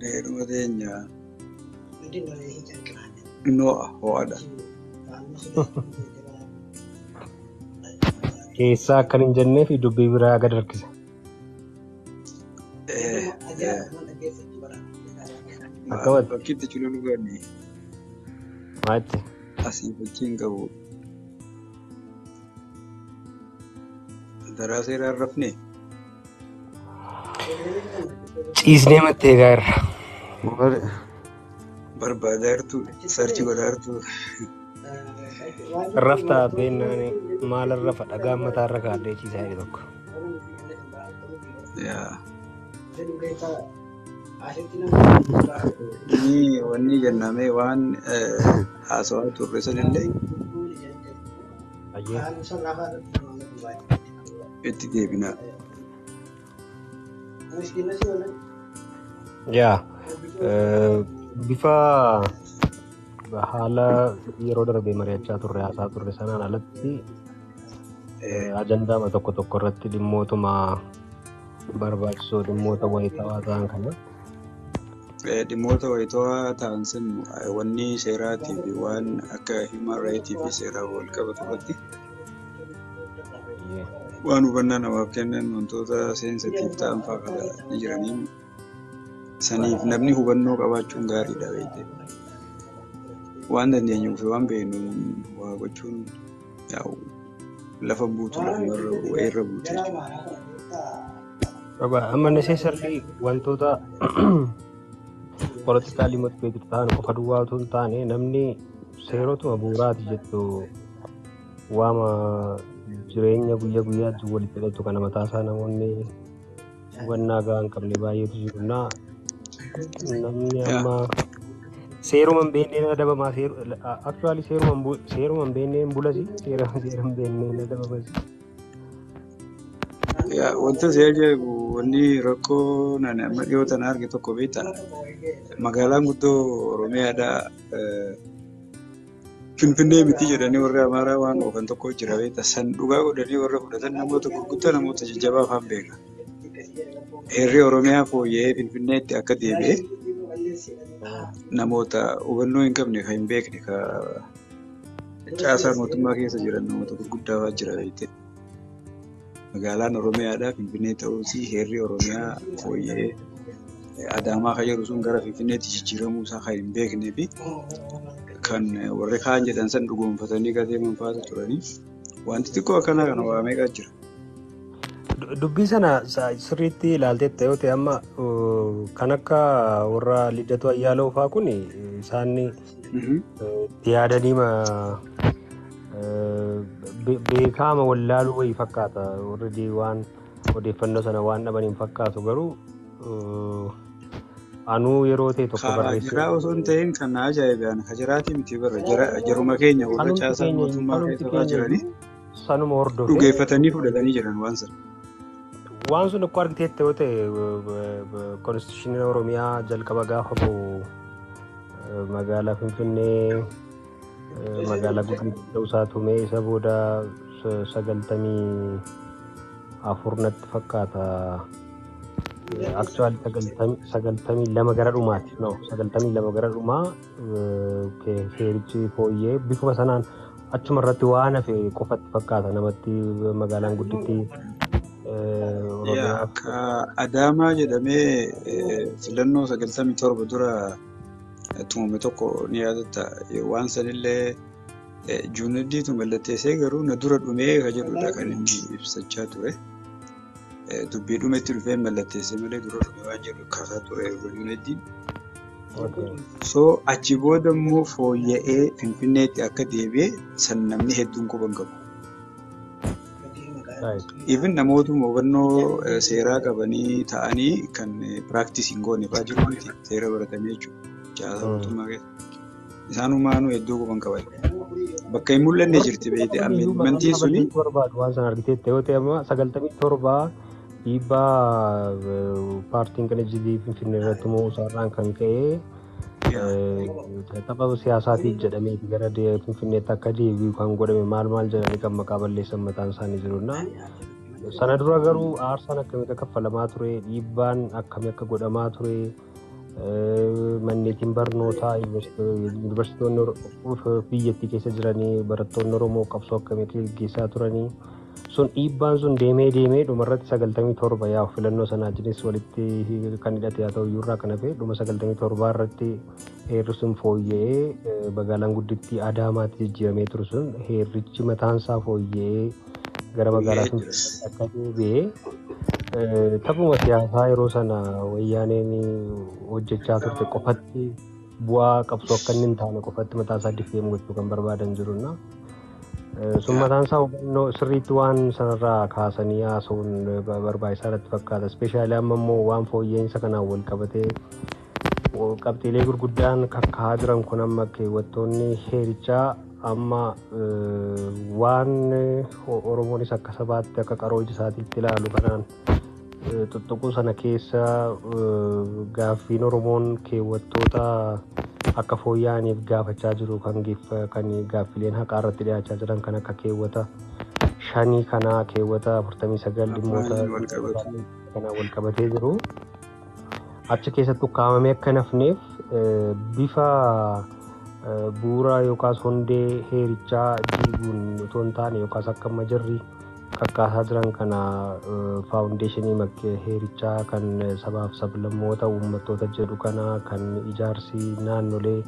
Dheeruma teenya noo'a ho'adha. Keessaa akkan hin jennee fi dubbii biraa gad harkisa. Akkawatti. Bakkitti cululu gani Maatti. asii fakkii hin qabu. Daraa seeraa hin rafne. Ciisnee mattee egaa irra. Wal- Barbaadaa jirtu sarchi godhaa jirtu. Raftaa beennaan maal rafa dhagaan mataa irra kaa'adhee ciisaa jedhe tokko. Yaa. Ni wanni jennamee waan eh, haasawaa turre sanillee Ayyee. itti deebinaa. Yaa eh, bifa haala yeroo darbe mari'achaa turre haasaa turre sanaan alatti eh, ajandaama tokko tokko irratti dhimmootuma barbaachisoo dhimmoota wayitaawaa ta'an kana Eh, Dhimmoota wayitawaa ta'an sun eh, wanni seeraatii fi waan akka human rights fi seeraan wal qabatu irratti Waan hubannaa namaaf kennan wantoota seensitiif ta'an fa'aa kana ni jiranii. Saniif namni hubannoo qabaachuun gaariidha beekte. Waan dandeenyuu fi waan beeknu waa gochuun yaa'u lafa buutuu lafumarra wayii irra buute jechuudha. Baba, amma necessarily wantoota politically motivated ta'an qofa duwwaa otoo hin taane namni seerotuma bu'uuraati jettu Waama jireenya guyyaa guyyaatti walitti hidhatu kana mataasaa namoonni hubannaa gahaa hin qabne baay'eetu jiru. Na namni amma seeruma hin beekneen adabamaa aktuwaali seeruma hin bu- seeruma hin beekneen bulasi seera seera hin beekneen adabamas. Yaa, Wanta si ajaa'ibu wanni rakkoo nani amma dhiyoo tana arge tokko beektaa? Magaalaan guddoo Oromiyaadhaa eh, Finfinnee miti jedhanii warri Amaaraa waan oofan tokko jira beekta. San dhugaa godhanii warra fudhatan namoota gurguddaa namoota jajjabaa afaan beeka. Heerri Oromiyaa fooyya'ee Finfinneetti akka deebi'e namoota hubannoo hin qabne kan hin beekne caasaa mootummaa keessa jiran namoota gurguddaa jira beekte. Magaalaan Oromiyaadha. Finfinnee ta'uutii heerri Oromiyaa fooyya'ee Adaamaa kan jedhu sun gara Finfinneetti jijjiiramuu isaa kan hin beeknee fi kan warri kaan jedhan san dhugoomfatanii gadeeman faatu turanii wanti xiqqoo akkanaa kana waa meeqa jira. Dubbii sana sirriitti ilaalteetta yoo ta'e amma kan akka warra Liddatu Ayyaaloo fa'aa kun isaan itti yaadaniima beekaama wallaaluu wayii fakkaata warri waan odeeffannoo sana waan dhaban hin fakkaatu garuu anuu yeroo ta'e tokko barreessee. Jiraa osoo hin ta'in kan na ajaa'ibaan hajiraatii miti bara jaruma keenya warra caasaa mootummaa keessa jiranii. Sanuma hordofee Dhugeeffatanii fudhatanii jiran waan sana. waan sun akkoo argiteetti yoo ta'e konstitushiniin Oromiyaa jalqaba gaafa ba'u eh, magaalaa Finfinnee eh, magaalaa guddittii ta'uu isaa tumee isa booda sa- sagaltamii afur natti fakkaata. Aktuwaali sagaltamii lama gara dhumaati. No, sagaltamii lama gara dhumaa eh, ke- seerichi fooyyee bifuma sanaan Achuma irratti waan hafe qofatti fakkaata namatti magaalaan gudditti. Adaamaa jedhamee filannoo sagaltamii torba dura tumame tokko ni yaadatta. Waan sanillee juunaddiitu mallatteessee garuu na dura dhumee ka jedhudha kan inni ibsachaa ture. Dubbiidhuma itti dhufee mallatteessee malee dura dhufe waan jedhu kaasaa ture Yunaayitid. So achi booda immoo fooyya'ee Finfinneetti akka deebi'e san namni hedduun quba hin qabu. Even namootuma hubannoo eh, seeraa qabanii ta'anii kan piraaktisii hin goone fa'aa jiru miti seera baratanii jechuudha. Caasaa mootummaa keessa. Isaan humaanuu iddoo quban qaban. Bakka hin mul'anne jirti beekte ammantiin suni. barbaadu waan sana argiteetta yoo ta'e amma sagaltamii torba dhiibbaa paartiin qinajjilii finfinnee irratti mo'uu isaarraan kan ka'e tapha siyaasaatiif jedhamee gara finfinneetti akka deebi'u kan godhame maal maal jedhanii kan maqaa balleessan mataan isaanii jirudha. Sana dura garuu aarsaan akkamitti akka kaffalamaa ture dhiibbaan akkamii akka godhamaa ture. Manneetiin barnootaa yuunivarsiitonni biyyattii keessa jiranii barattoonni Oromoo qabsoo akkamitti gaggeessaa turanii sun dhiibbaan sun deemee deemee dhumarratti sagaltamii torba yaa filannoo sanaa jinis walitti kan hidhate haa ta'u iyyuurraa kan hafe dhuma sagaltamii torbaa irratti heerri sun fooyya'ee magaalaan guddittii Adaamaatti jijjiiramee ture sun heerrichi mataansaa fooyya'ee gara magaalaa Finfinneetti akka deebi'e taphuma siyaasaa yeroo sana wayyaaneen hojjechaa turte qofatti bu'aa qabsoo akka inni hin taane qofatti mataa isaa diffeem gochuu kan barbaadan jirunna. Sun mataan isaa hubannoo sirriitti waan sanarraa kaasanii haasa'uun barbaachisaa irratti fakkaata. Ispeeshaalii amma immoo waan fooyya'insa kanaan wal qabatee Qabxiilee gurguddaan kakkaa'aa jiran kun amma keewwattoonni heerichaa amma waan Oromoonis akka sabaatti akka qaroo ija isaatiitti ilaalu kanaan tuttuquu sana keessa gaaffiin Oromoon keewwattoota akka fooyya'aniif gaafachaa jiru kan kan gaaffileen haqaa irratti dhiyaachaa jiran kan akka keewwata shanii kanaa keewwata 49 dhimmoota kanaan wal qabatee jiru. achi keessatti ukkaamamee akka hin hafneef bifa bu'uura yookaas hundee heerichaa diiguun otoo hin taane yookaas akka amma jirri kakkaasaa jiran kana faawundeeshinii heerichaa kan sabaaf sablammoota uummattoota jedhu kana kan ijaarsi naannolee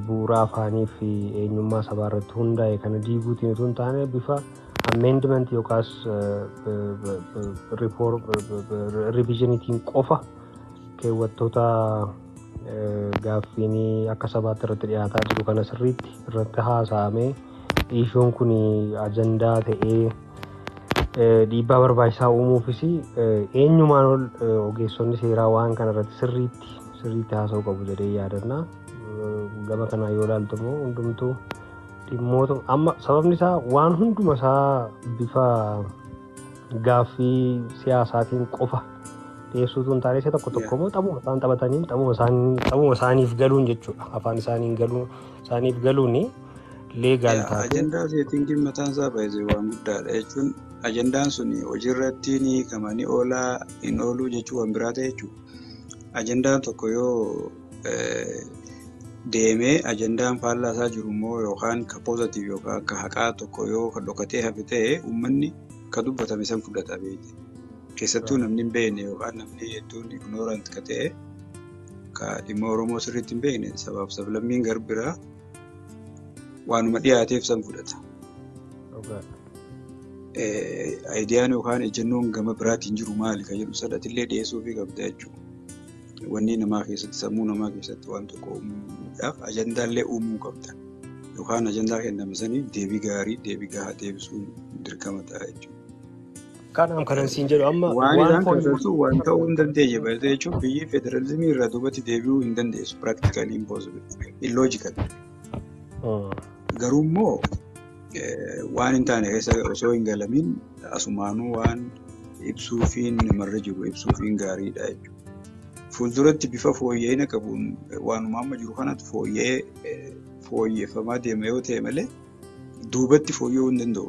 bu'uura afaanii fi eenyummaa sabaa irratti hundaa'e kana diiguutiin otoo hin taane bifa amendment yookaas riviizhiniitiin qofa keewwattoota gaaffiin akka sabaatti irratti dhiyaataa jiru kana sirriitti irratti haasa'amee dhiishuun kun ajandaa ta'ee dhiibbaa barbaachisaa uumuufis eenyumaan ol ogeessonni seeraa waan kana irratti sirriitti sirriitti haasa'uu qabu jedhee yaadanna. Gama kanaa yoo ilaaltu immoo hundumtuu dhimmoota amma sababni isaa waan hunduma isaa bifa gaaffii siyaasaatiin qofa dhiyeessuutu hin taane isa tokko tokko immoo xabuma isaan taphataniin xabuma isaanii xabuma isaaniif galuun jechuudha afaan isaaniin galuun isaaniif galuun leegaal taate Ajandaa seetingiin mataan isaa baay'ee waan guddaadha jechuun ajandaan sun hojiirratti ni hiikama ni oolaa hin ooluu jechuun waan biraa ta'e jechuudha. Ajandaan tokko yoo deemee ajandaan faallaa isaa jiru immoo yookaan ka poozatiif yookaan ka haqaa tokko yoo ka dhokatee hafe ta'e uummanni ka dubbatame san fudhata beekte. Keessattuu namni hin beekne yookaan namni hedduun ignoorant ka ta'e ka dhimma Oromoo sirriitti hin beekne sabaaf sablammiin garbiraa waanuma dhiyaateef san fudhata. Ayidiyaan yookaan ejjennoon gama biraatiin jiru maali ka jedhu sadatillee dhiyeessuufii qabda jechuudha. Wanni namaa keessatti sammuu namaa keessatti waan tokko uumuudhaaf ajandaallee uumuu qabda. Yookaan ajandaa kenname saniif deebii gaarii deebii gahaa deebisuun dirqama ta'a jechuudha. Kanaaf kanan siin jedhu amma Waan isaan kun keessattuu waan ta'uu hin dandeenye baay'ee jechuun biyyi federalizimii irraa duubatti deebi'uu hin dandeessu. Practically impossible. Illogical. Mm. Garuu immoo eh, waan hin taane keessa osoo hin galamiin asumaanuu waan ibsuufiin marra jiru ibsuufiin gaariidha jechuudha. Fuulduratti bifa fooyya'ina qabuun waanuma amma jiru kanatu fooyya'ee fooyyeffamaa deema yoo ta'e malee duubatti fooyya'uu hin danda'u.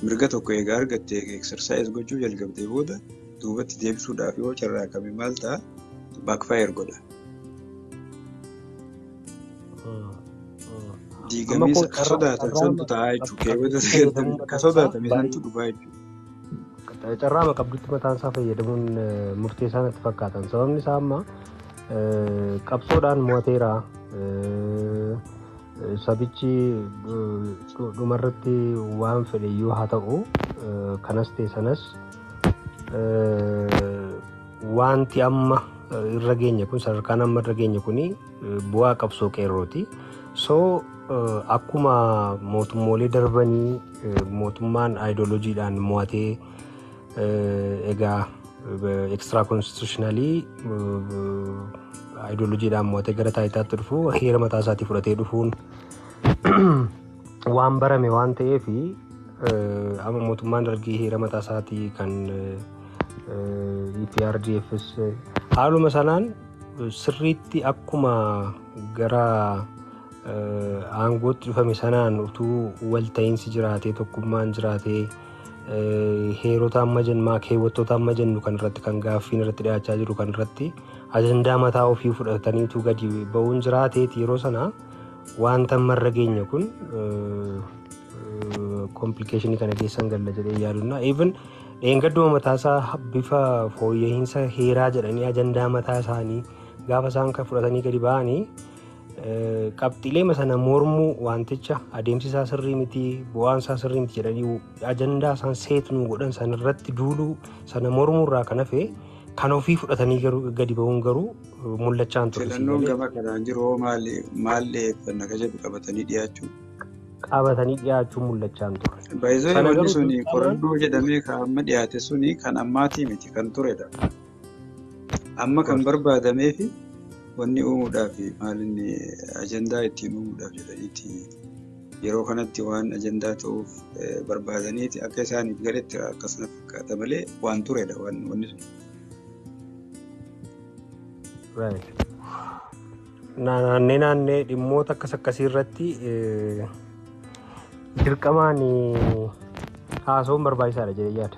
Mirga tokko egaa argatte eksarsaayis gochuu jalqabdee booda duubatti deebisuudhaaf yoo carraaqame maal ta'a baakfaayir godha. Diigamee ka sodaatan santu ta'a jechuudha. Keewwata sagantamii ka sodaatame santu dhufaa jechuudha. Carraama qabdutti mataan isaa fayyadamuun murteessaa natti fakkaatan. Sababni isaa amma qabsoodhaan mo'ateera. Sabichi dhumarratti waan fedhe yoo haa ta'u kanas ta'e sanas wanti amma irra geenye kun sadarkaan amma irra geenye kuni bu'aa qabsoo qeerrooti. So akkuma mootummoolee darbanii mootummaan aayidolojiidhaan mo'atee egaa extra constitutionally aayidolojiidhaan mo'atee gara taayitaatti dhufu heera mataa isaatii fudhatee dhufuun waan barame waan ta'eef amma mootummaan dargii heera mataa isaatii kan EPRDFs haaluma sanaan Sirriitti akkuma gara aangootti dhufame sanaan utuu walta'iinsi jiraatee tokkummaan jiraatee heerota amma jennu keewwattoota amma jennu kan irratti kan gaaffiin irratti dhiyaachaa jiru kan irratti ajandaa mataa ofii fudhatanii utuu gadi ba'uun jiraateeti yeroo sana wanta marra geenye kun Komplikeeshinii kana keessan galla jedhee yaadunna. Even dheengadduma mataasaa bifa fooyya'iinsa heeraa jedhanii ajandaa mataa isaanii gaafa isaan kan fudhatanii gadi ba'anii qabxiilee sana mormuu wanticha adeemsi isaa sirrii miti bu'aan isaa sirrii miti jedhanii ajandaa isaan seetnuu godhan sana irratti duuluu sana mormuu irraa kan hafe kan ofii fudhatanii garuu gadi ba'uun garuu mul'achaa hin turre. Filannoon gama kanaan jiru hoo maal maal dhiyeeffannaka jedhu qabatanii dhiyaachuu? qabatanii dhiyaachuun mul'achaa hin turre. Baay'isanii Kana wanti garuu suni dirqamaan- qorannoo jedhamee kan amma dhiyaate suni kan ammaatii miti kan turedha. Amma kan barbaadamee fi wanni uumuudhaaf maalinni ajandaa ittiin uumuudhaaf jedhaniiti yeroo kanatti waan ajandaa ta'uuf eh, barbaadaniiti akka isaaniif galetti akkasuma fakkaata malee waan turedha waan wanni sun. Right. naannee naannee dhimmoota akkas akkasii irratti eh, dirqamaan eh, haasawuun barbaachisaadha jedhee yaada.